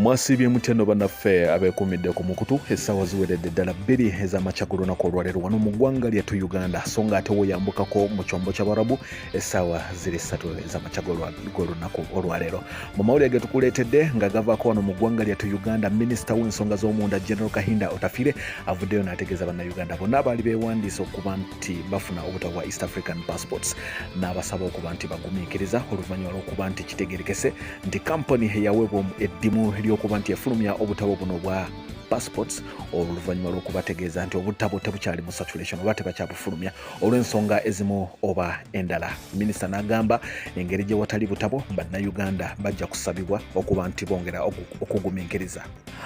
mwasiibye mutya no banaffe abeekuumidde ku mukutu essaawa ziweredde ddala bbiri ez'amakya ku lunaku olwaleero wano mu ggwanga lyattu uganda so nga ate woyambukako mu kyombo ky'abarabu essaawa ziri ssatu ez'amakya g'olunaku olwaleero mu mawulire ge tukuleetedde nga gavaako wano mu ggwanga lyattu uganda minisita w'ensonga z'omunda general kahinda otafire avuddeyo n'ategeeza bannayuganda bonna abaali beewandiisa okuba nti bafuna obutabo bwa east african passports n'abasaba okuba nti bagumiikiriza oluvannyuma lw'okuba nti kitegerekese nti kampani eyaweebwa eddimu ly'okuba nti efulumya obutabo buno bwa passports oluvannyuma lw'okubategeeza nti obutabo tebukyali mu saturation oba tebakyabufulumya olw'ensonga ezimu oba endala minisita n'agamba engeri gye watali butabo bannayuganda bajja kusabibwa okuba nti bongera okugumiikiriza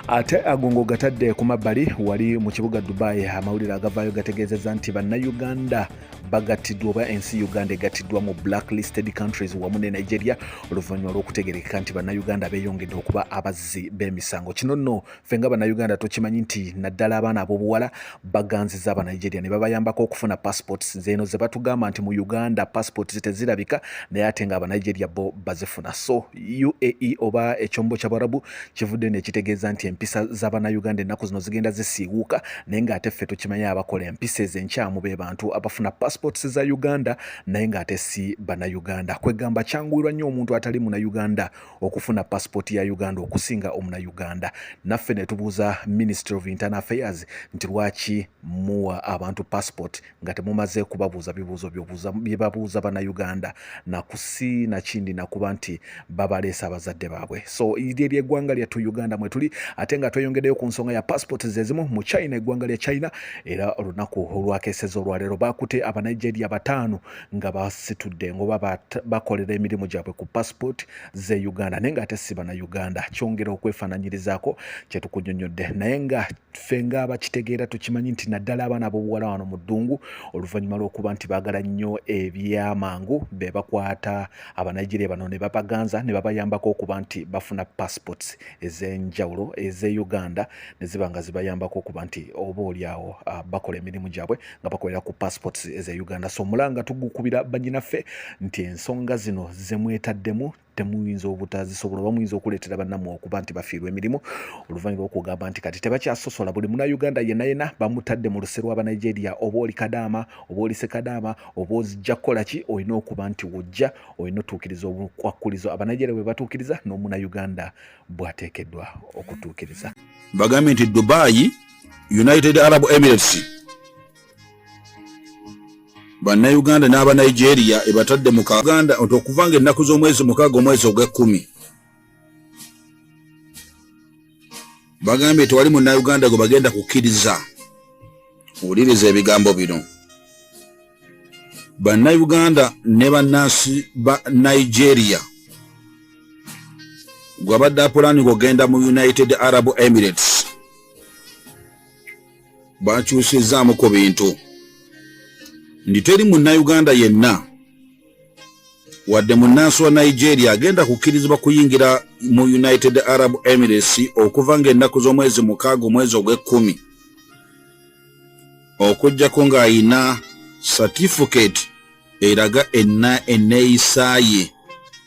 ate agongo gatadde ku mabbali wali mu kibuga dubai amawulire agavaayo gategeezezza nti bannayuganda bagattiddwa oba ensi uganda egattiddwa mu blacklisted countries wamu ne nigeria oluvannyuma lw'okutegerekeka nti bannayuganda beeyongedde okuba abazzi b'emisango kino nno ffe nga bannayuganda tukimanyi nti naddala abaana ab'obuwala baganziza abanigeria ne babayambako okufuna passports zeeno ze batugamba nti mu uganda passports tezirabika naye ate nga abanigeria bo bazifuna so uae oba ekyombo kyabarabu kivudde nekitegeeza nti empisa z'abanauganda ennaku zino zigenda zisiiwuuka naye nga ate ffe tukimanyi abakola empisa ezo enkyamu be bantu abafuna passports za uganda naye nga ate si banauganda kwegamba kyanguirwa nnyo omuntu atali munauganda okufuna pasipooti ya uganda okusinga omuna uganda naffe netubuuza ministry of internal affairs nti lwaki muwa abantu passport nga temumaze kubabuuza bibuuzo byebabuuza bana uganda nakusi nakindi nakuba nti babaleesa abazadde baabwe so iryo lyeggwanga lyattu uganda mwetuli ate nga tweyongeddeyo ku nsonga ya passport zezimu mu china eggwanga lya china era olunaku olwakeseza olwaleero bakute abanigeria bataano nga basitudde ngoba bakolera emirimu gyabwe ku passport ze uganda naye nga ate si bana uganda kyongera okwefananyirizaako kyetukunyonyodde naye nga ffe nga abakitegeera tukimanyi nti naddala abaana abobuwala wano mu ddungu oluvannyuma lw'okuba nti baagala nnyo ebyamangu be bakwata abanigeria bano ne babaganza ne babayambako okuba nti bafuna passports ez'enjawulo ez'e uganda ne ziba nga zibayambako okuba nti oba olyawo ah, bakola emirimu gyabwe nga bakolera ku passports eza uganda so omulanga tugukubira banyinaffe nti ensonga zino zemwetaddemu temuyinza obutazisobola oba muyinza okuleetera bannamwe okuba nti bafiirwa emirimu oluvannyuma lwokugamba nti kati tebakyasosola buli munauganda yenayena bamutadde mu luse lwa banigeria oba oli kadaama oba oli sekadaama oba ozijja kukola ki olina okuba nti wojja olina otuukiriza obukwakkulizo abanigeria bwe batuukiriza n'omunauganda bwateekeddwa okutuukiriza bagambe nti dubayi United Arab Emirates bannayuganda n'aba Nigeria ebatadde mu Uganda nti okuva nga ennaku z'omwezi mukaaga omwezi ogw'ekkumi bagambye tewali munnayuganda gwe bagenda kukkiriza wuliriza ebigambo bino bannayuganda ne bannansi ba Nigeria gwabadde apulaninga okugenda mu United Arab Emirates bakyusizzaamu ku bintu nti teri munnayuganda yenna wadde munnansi wa nigeria agenda kukkirizibwa kuyingira mu united arab emirates okuva ng'ennaku z'omwezi mukaaga omwezi ogw'ekkumi okuggyako ng'ayina satifiketi eraga enna enneeyisa ye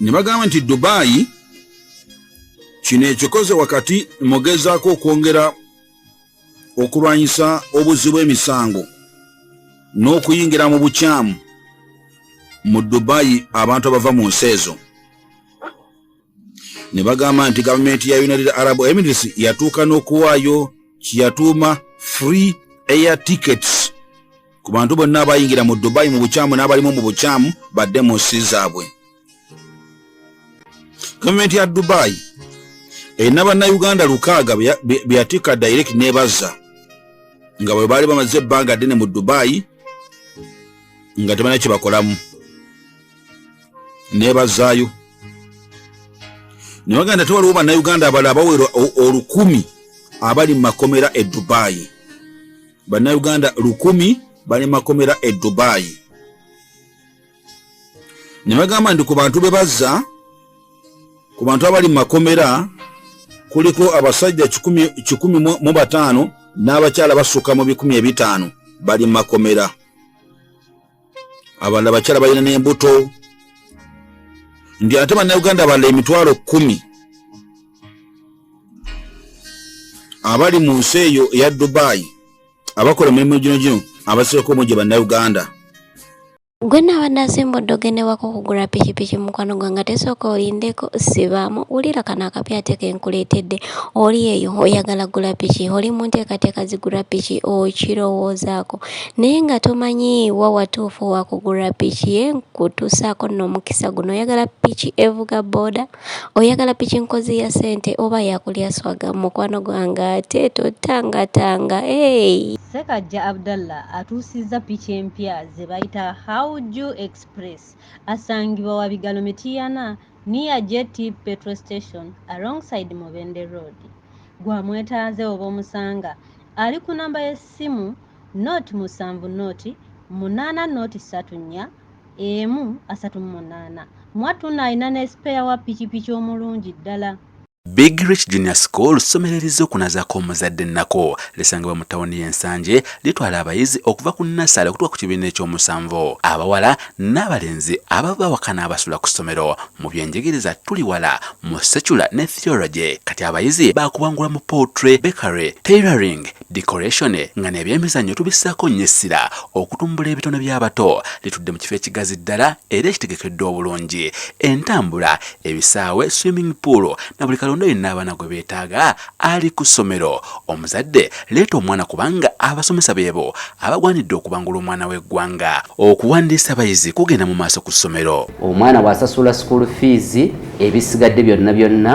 ne bagamba nti dubayi kino ekikoze wakati mugezaako okwongera okulwanyisa obuzzi bw'emisango n'okuyingira mu bukyamu mu dubayi abantu abava mu nsi ezo ne bagamba nti gavumenti ya united arab emirates yatuuka n'okuwaayo kye yatuuma free air tickets ku bantu bonna abayingira mu dubayi mu bukyamu n'abalimu mu bukyamu badde mu nsi zaabwe gavumenti ya dubayi erina bannayuganda lukaaga beyatikka direct nebazza nga bwe baali bamaze ebbanga ddene mu dubayi nga tebalina kye bakolamu nebazaayo nebaganda te waliwo bannayuganda abala abawera olukumi abali mu makomera e dubayi bannayuganda lukumi bali makomera e dubayi ne bagamba nti ku bantu be bazza ku bantu abali mu makomera kuliko abasajja kikumi mu bataano n'abakyala basukka mu bikumi ebitaano bali mu makomera abalala bakyala balina n'embuto ndi ate bannayuganda abalala emitwalo kkumi abali mu nsi eyo eya dubayi abakola emirimu gino gino abasieko omu gye bannayuganda gwe naaba nasimba oddoge newaka okugula pikipiki mukwano gwe nga tesooka olindeko sibaamu wulira kano akapya ateeka enkuleetedde oli eyo oyagala gula piki oli mu nteekateeka zigula piki okirowoozaako naye nga tomanyi wa watuufu wakugula piki ye nkutuusaako n'omukisa guno oyagala piki evuga booda oyagala piki nkozi ya sente oba yakulya swaga mukwano gwange ate totangatanga hey. Ssekajja Abdallah atuusizza piki empya ze bayita Hauju Express asangibwa wa Bigalo Mityana near JT Petrol Station alongside Mubende Road. Gwamwetaaze oba omusanga ali ku namba y'essimu. ssimu not musanvu not munaana not ssatu nnya emu asatu mu munaana mwattuno alina ne sipeya wa pikipiki omulungi ddala Big Rich Junior School ssomero erizokunazaako omuzadde ennako lisangibwa mu tawuni y'ensanje litwala abayizi okuva ku nasale okutuka ku kibiina ekyomusanvu abawala n'abalenzi ababa bawakana abasula ku ssomero mu byenjigiriza tuli wala mu secula ne theology kati abayizi bakubangula mu poultry bakery tailoring decoration nga nebyemizannyo tubissaako nnyo essira okutumbula ebitone by'abato litudde mu kifo ekigazi ddala era ekitegekeddwa obulungi entambula ebisaawe swimming pool na buli kalonda yenna abaana gwe beetaaga ali ku ssomero omuzadde leeta omwana kubanga abasomesa beebo abagwanidde okubangula omwana w'eggwanga okuwandiisa abayizi kugenda mu maaso ku ssomero omwana bw'asasula school fees ebisigadde byonna byonna